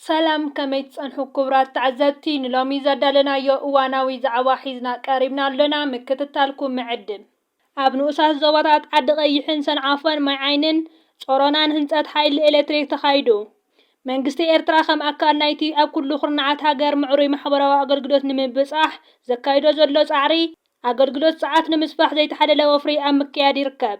ሰላም ከመይ ትጸንሑ ኩቡራት ተዓዘብቲ ንሎሚ ዘዳለናዮ እዋናዊ ዛዕባ ሒዝና ቀሪብና ኣሎና ምክትታልኩም ንዕድም። ኣብ ንኡሳት ዞባታት ዓዲ ቐይሕን ሰንዓፈን ማይ ዓይንን ጾሮናን ህንጸት ሓይሊ ኤሌክትሪክ ተኻይዱ። መንግስቲ ኤርትራ ከም ኣካል ናይቲ ኣብ ኩሉ ኩርናዓት ሃገር ምዕሩይ ማሕበራዊ ኣገልግሎት ንምብጻሕ ዘካይዶ ዘሎ ጻዕሪ ኣገልግሎት ጸዓት ንምስፋሕ ዘይተሓለለ ወፍሪ ኣብ ምክያድ ይርከብ።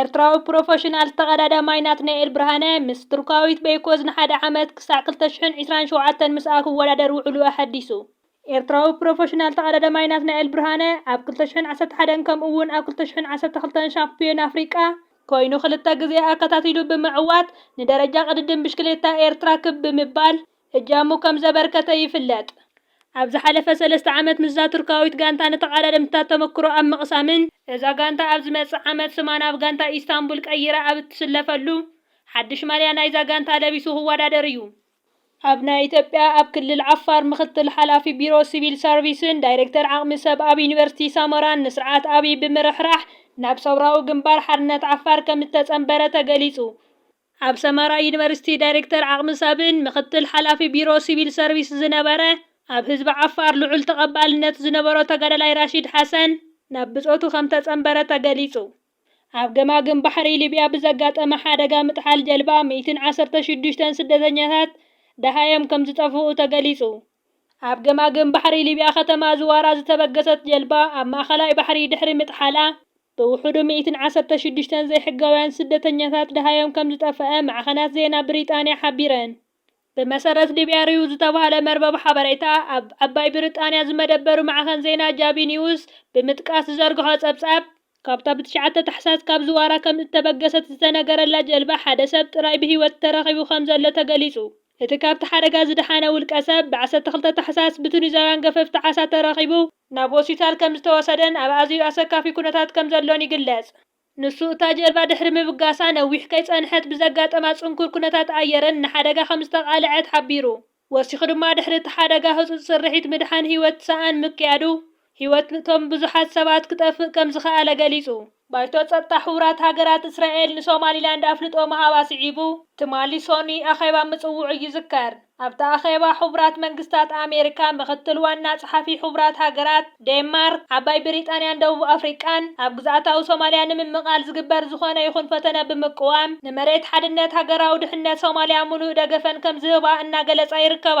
ኤርትራዊ ፕሮፈሽናል ተቐዳዳማይ ናትናኤል ብርሃነ ምስ ቱርካዊት በይኮዝ ንሓደ ዓመት ክሳዕ ክልተ ሽሕን ዒስራን ሸውዓተን ምስኣ ክወዳደር ውዕሉ ኣሐዲሱ። ኤርትራዊ ፕሮፈሽናል ተቐዳዳማይ ናትናኤል ብርሃነ ኣብ ክልተ ሽሕን ዓሰርተ ሓደን ከምኡ'ውን ኣብ ክልተ ሽሕን ዓሰርተ ክልተን ሻምፕዮን ኣፍሪቃ፣ ኮይኑ ክልተ ግዜ ኣከታቲሉ ብምዕዋት ንደረጃ ቅድድም ብሽክሌታ ኤርትራ ክብ ብምባል እጃሙ ከም ዘበርከተ ይፍለጥ። ኣብ ዝሓለፈ ሰለስተ ዓመት ምስዛ ቱርካዊት ጋንታ ንተቐዳደምትታት ተመክሮ ኣብ ምቕሳምን፣ እዛ ጋንታ ኣብ ዝመጽእ ዓመት ስማ ናብ ጋንታ ኢስታንቡል ቀይራ ኣብ እትስለፈሉ፣ ሓድሽ ማልያ ናይዛ ጋንታ ለቢሱ ክወዳደር እዩ። ኣብ ናይ ኢትዮጵያ ኣብ ክልል ዓፋር ምክትል ሓላፊ ቢሮ ስቪል ሰርቪስን ዳይሬክተር ዓቕሚ ሰብ ኣብ ዩኒቨርሲቲ ሰመራን ንስርዓት ኣብይ ብምርሕራሕ ናብ ሰውራዊ ግንባር ሓርነት ዓፋር ከም እተጸንበረ ተገሊጹ። ኣብ ሰመራ ዩኒቨርሲቲ ዳይሬክተር ዓቕሚ ሰብን ምኽትል ሓላፊ ቢሮ ሲቪል ሰርቪስ ዝነበረ ኣብ ህዝቢ ዓፋር ልዑል ተቐባልነት ዝነበሮ ተጋዳላይ ራሺድ ሓሰን ናብ ብጾቱ ከምተጸንበረ ተገሊጹ። ኣብ ገማግም ባሕሪ ሊብያ ብዘጋጠመ ሓደጋ ምጥሓል ጀልባ ሚእትን ዓሰርተ ሽዱሽተን ስደተኛታት ደሃዮም ከምዝጠፍኡ ተገሊጹ። ኣብ ገማግም ባሕሪ ሊብያ ከተማ ዝዋራ ዝተበገሰት ጀልባ ኣብ ማእኸላይ ባሕሪ ድሕሪ ምጥሓላ፣ ብውሑዱ ሚኢትን ዓሰርተ ሽዱሽተን ዘይሕጋውያን ስደተኛታት ደሃዮም ከምዝጠፈኣ ማዕኸናት ዜና ብሪጣንያ ሓቢረን። ብመሰረት ዲቢኣርዩ ዝተባህለ መርበብ ሓበሬታ ኣብ ዓባይ ብሪጣንያ ዝመደበሩ ማዕኸን ዜና ጃቢ ኒውስ ብምጥቃስ ዝዘርግሖ ጸብጻብ፣ ካብታ ብ ትሽዓተ ታሕሳስ ካብ ዝዋራ ከምእተበገሰት ዝተነገረላ ጀልባ ሓደ ሰብ ጥራይ ብህይወት ተረኺቡ ከምዘሎ ተገሊጹ። እቲ ካብቲ ሓደጋ ዝደሓነ ውልቀሰብ፣ ብ ዓሰርተ ክልተ ታሕሳስ ብቱኒዛውያን ገፈፍቲ ዓሳ ተረኺቡ፣ ናብ ሆስፒታል ከምዝተወሰደን ኣብ ኣዝዩ ኣሰካፊ ኩነታት ከምዘሎን ይግለጽ። ንሱ፣ እታ ጀልባ ድሕሪ ምብጋሳ ነዊሕ ከይጸንሐት ብዘጋጠማ ጽንኩር ኩነታት ኣየርን ንሓደጋ ከምዝተቓልዐት ሓቢሩ። ወሲኹ ድማ፣ ድሕሪ እቲ ሓደጋ ህጹጽ ስርሒት ምድሓን ህይወት ሰኣን ምክያዱ፣ ህይወት'ቶም ብዙሓት ሰባት ክጠፍእ ከምዝኸኣለ ገሊጹ። ባይቶ ጸጥታ ሕቡራት ሃገራት፣ እስራኤል ንሶማሊላንድ ኣፍልጦ ምሃባ ስዒቡ ትማሊ ሶኑይ ኣኼባ ምጽውዑ ይዝከር። ኣብቲ ኣኼባ ሕቡራት መንግስታት ኣሜሪካ፣ ምክትል ዋና ጸሓፊ ሕቡራት ሃገራት፣ ዴንማርክ፣ ዓባይ ብሪጣንያን ደቡብ ኣፍሪቃን ኣብ ግዝኣታዊ ሶማልያ ንምምቓል ዝግበር ዝኾነ ይኹን ፈተነ ብምቅዋም ንመሬት ሓድነት ሃገራዊ ድሕነት ሶማልያ ምሉእ ደገፈን ከምዝህባ እናገለጻ ይርከባ።